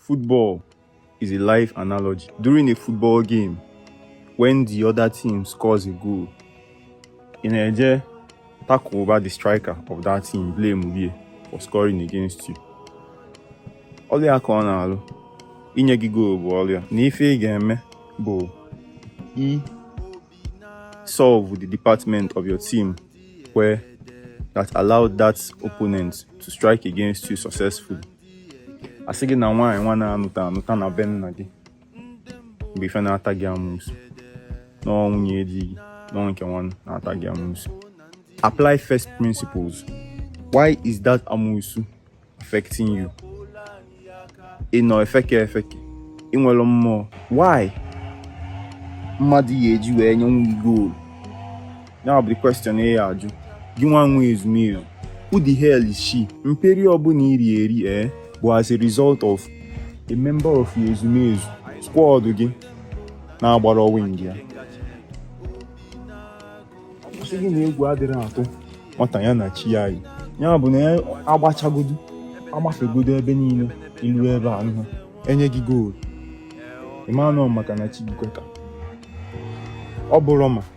Football is a life analogy. During a football game, when the other team scores a goal, in Eje, tackle over the striker of that team, blame Mubie, for scoring against you. Ọlị aka ọ na-alụ, inye gị goolu bụ ọlịa na ife ị ga-eme bụ i solve the department of your team where that allowed that opponent to strike against you successfully. asị gị na nwaanyị nwa na-anụta anụta na be nna gị mgbe ife na-ata gị amụsụ na ọ nwunye di gị na ọ nke nwa na-ata gị amụsụ apply first principles why is that amụsụ affecting you ị nọ efeke efeke ị nwere mmụọ why mmadụ ya eji wee nyenwu gị goal ya bụ question ị ya ajụ gị nwa nwe ezumezu who the hell is she mperi ọbụla i ri eri ee bụ as a result of a member of your ezumezu squad gị na-agbara wing ya asị gị na egwu adịrị atụ nwata ya na chi ya yi ya bụ na agbachagodu agbafegodu ebe niile ilu ebe a nụ enye gị goal ịmanụ maka na chi gị kweta ọ bụrụ ma